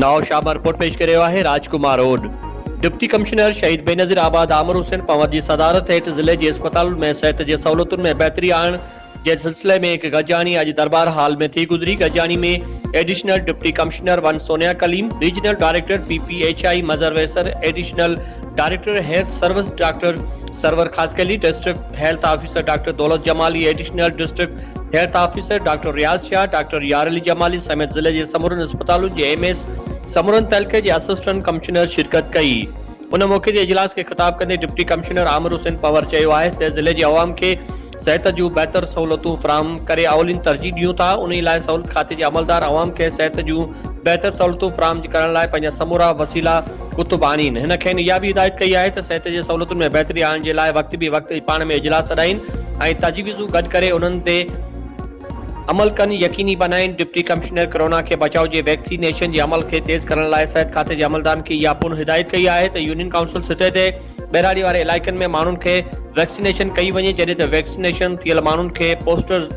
نواب شاهه مان رپورٽ پيش ڪري رهيو آهي راج ڪمار اوڏ. ڊپٽي ڪمشنر شهيد بينظير آباد عامر حسين پنور جي صدارت هيٺ ضلعي جي اسپتالن ۾ صحت جي سهولتن ۾ بهتري آڻڻ جنهن سلسلي ۾ هڪ گڏجاڻي اڄ درٻار هال ۾ ٿي گذري، گڏجاڻي ۾ additional deputy commissioner one Sonia Kaleem, regional director P P H I Mazhar Wisar, additional director health service doctor Sarwar Khaskheli, district health officer doctor Daulat Jamali, additional district health officer doctor Riaz Shah, doctor Yar Ali Jamali سميت ضلعي جي سمورن اسپتالن جي ايم ايز، سمورن تعلقي جي اسسٽنٽ ڪمشنرز شرڪت ڪئي. ان موقعي تي اجلاس کي خطاب ڪندي ڊپٽي ڪمشنر عامر حسين پنور چيو آهي ته ضلعي جي عوام کي صحت جون بهتر سهولتون فراهم ڪري اولين ترجيح ڏيون ٿا انهي لاء سهولت کاتي جي عملدار عوام کي صحت جون بهتر سهولتون فراهم ڪرڻ لاء پنهنجا سمورا وسيلا ڪتب آڻين هن کين اها به هدايت ڪئي آهي ته صحت جي سهولتن ۾ بهتري آڻڻ جي لاء وقت بي وقت پاڻ ۾ اجلاس سڏائين ۽ تجويزون گڏ ڪري انهن تي عمل ڪن يقيني بنائين ڊپٽي ڪمشنر ڪرونا کي بچاء جي ويڪسي نيشن جي عمل کي تيز ڪرڻ لاء صحت کاتي جي عملدارن کي اها پڻ هدايت ڪئي آهي ته يونين ڪائونسل سطح تي ٻهراڙي واري علائقن ۾ ماڻهن کي ويڪسينيشن ڪئي وڃي جڏهن ته ويڪسينيشن ٿيل ماڻهن کي پوسٽر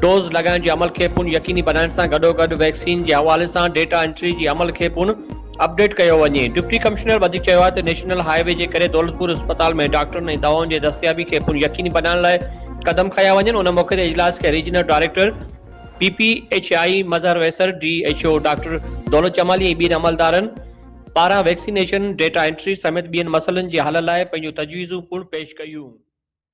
ڊوز لڳائڻ جي عمل کي پڻ يقيني بنائڻ سان گڏوگڏ ويڪسين جي حوالي سان ڊيٽا انٽري جي عمل کي پڻ اپڊيٽ ڪيو وڃي ڊپٽي ڪمشنر وڌيڪ چيو آهي ته نيشنل هاء وي جي ڪري دولتپور اسپتال ۾ ڊاڪٽرن ۽ دوائن جي دستيابي کي پڻ يقيني بنائڻ لاء قدم کنيا وڃن ان موقعي تي اجلاس کي regional director P P H I Mazhar Wisar D H O doctor Daulat Jamali ۽ ٻين عملدارن پاران ويڪسينيشن، ڊيٽا انٽري سميت ٻين مسئلن جي حل لاء پنهنجون تجويزون پڻ پيش ڪيون.